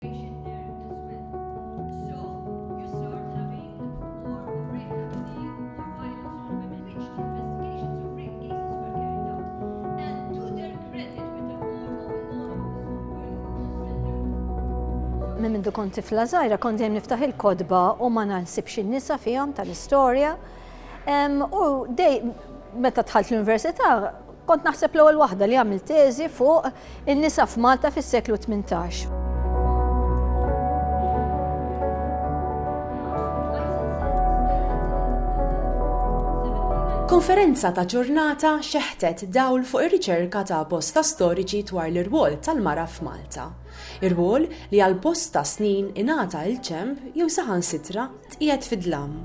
Minn mindu kont tifla żgħira kont dejjem niftaħ il-kotba u ma naħsibx in-nisa fihom tal-istorja. U dej meta dħalt l-università Kont naħseb l-ewwel waħda li għamilt teżi fuq in-nisa f'Malta fis-seklu 18. Konferenza ta' ġurnata xeħtet dawl fuq ir-riċerka ta' bosta storiċi dwar l-irwol tal-mara f'Malta. Irwol li għal bosta snin ingħata il-ġenb jew saħansitra Tqiegħed fid-dlam.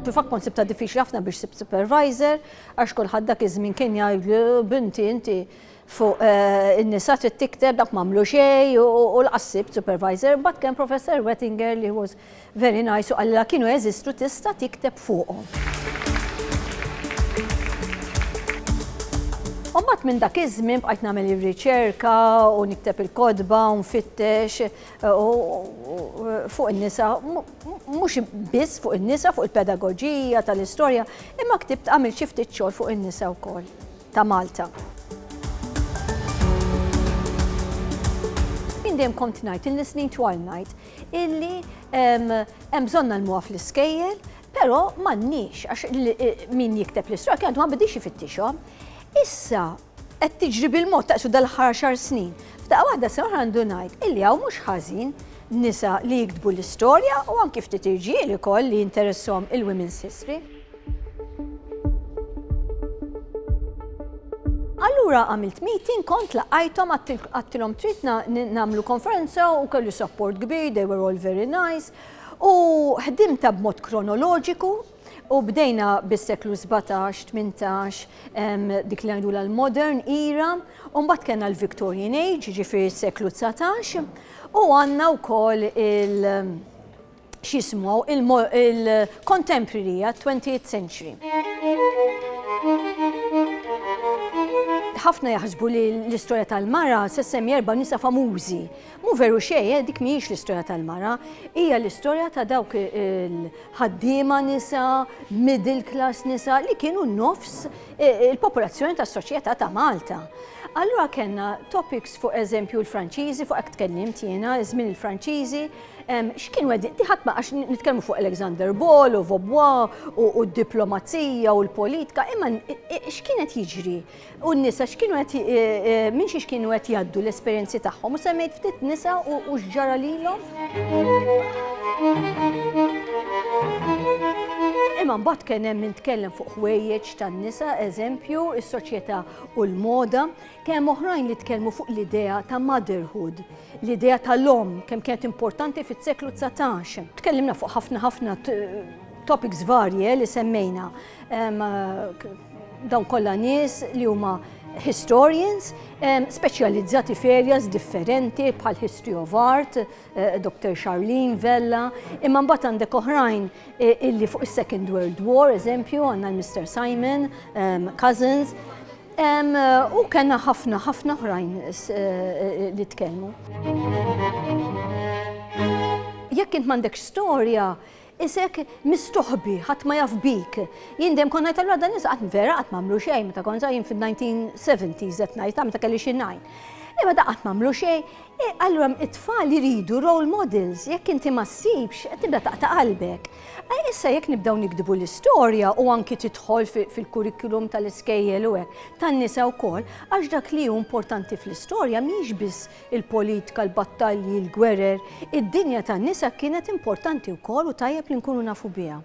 fil-fatt kont sibta diffiċli ħafna biex sib supervisor, għax kulħadd dak iż-żmien kien jgħidlu binti inti fuq eh, in-nisa trid tikter dak m'għamlu xejn u l-qassib supervisor, but kien Professor Wettinger li was Very nice u qalilha kienu jeżistu tista' tikteb fuqhom. U mbagħad minn dak iż-żmien bqajt nagħmel ir-riċerka u nikteb il-kotba u nfittex fuq in-nisa mhux biss fuq in-nisa fuq il-pedagoġija tal-istorja imma ktibt għamil xi ftit xogħol fuq in-nisa wkoll ta' Malta. Jien dejjem kont ngħid, ilni snin twal ngħid, illi hemm bżonn nagħlmuha fl-iskejjel, però m'għandniex għax min jikteb l-istorja kien għadu ma bidiex ifittixhom. Issa qed tiġri bil-mod taqsu dal-aħħar xar snin. F'daqqa waħda se oħra għandu ngħid illi hawn mhux ħażin nisa li jiktbu l-istorja u anki ftit irġiel ukoll li jinteressahom il-women's history. Allura għamilt meeting, kont laqajtom, għattilom trid namlu konferenza u kellu support kbir, they were all very nice. U ħdimta b'mod kronoloġiku, u bdejna bis-seklu 17-18 dik li għajdu l-modern era, u mbagħad kellna l-Victorian Age, ġifiri s-seklu 19, u għandna wkoll il- x'jismu, il-contemporary għat twentieth century. Ħafna jaħsbu li l-istorja tal-mara se semmi erba' nisa famużi. Mu veru xejn, eh, dik mhijiex l-istorja tal-mara, hija l-istorja ta' dawk il-ħaddiema nisa, middle class nisa li kienu nofs eh, il-popolazzjoni tas-soċjetà ta' Malta. Allura kellna topics fuq eżempju l-Franċiżi, fuq hekk tkellimt jiena, żmien il-Franċiżi, X'kien wedi, tiħat ma għax nitkellmu fuq Alexander Ball u Vobwa u d-diplomazija u l-politika, imma x'kienet jiġri? U n-nisa x'kienu qed e, e, minn xiex kienu qed jgħaddu l-esperjenzi tagħhom u semmejt ftit nisa u x'ġara lilhom? Imma mbagħad kien hemm min tkellem fuq ħwejjeġ tan-nisa, eżempju, is-soċjetà u l-moda. Kemm oħrajn li tkellmu fuq l-idea ta' motherhood, l-idea tal-omm kemm kienet importanti fis-seklu 19. Tkellimna fuq ħafna ħafna topics varje li semmejna. Dawn kollha nies li huma historians speċjalizzati f'areas differenti bħal history of art, eh, Dr. Charlene Vella, imma mbagħad għandek oħrajn eh, illi fuq is-Second World War, eżempju, għandna l-Mr. Simon, Cousins, U kellna ħafna ħafna oħrajn li tkellmu. Jekk int m'għandekx storja, isek mistoħbi, ħadd ma jaf bik. Jien dejjem kont ngħid allura dan nisa qatt vera qatt m'għamlu xejn meta kont jien fin-1970s qed ngħid meta kelli xi ngħin. Imma da qatt m'għamlu xejn, E allura it-tfal iridu role models, jekk inti ma ssibx, tibda taqta' qalbek. E issa jekk nibdew nikdbu l-istorja u anki tidħol fil-kurrikulum tal-iskejjel u hekk, tan-nisa wkoll, għax dak li hu importanti fl-istorja mhix biss il-politika, l-battalji, l-gwerer, id-dinja tan-nisa kienet importanti wkoll u tajjeb li nkunu nafu biha.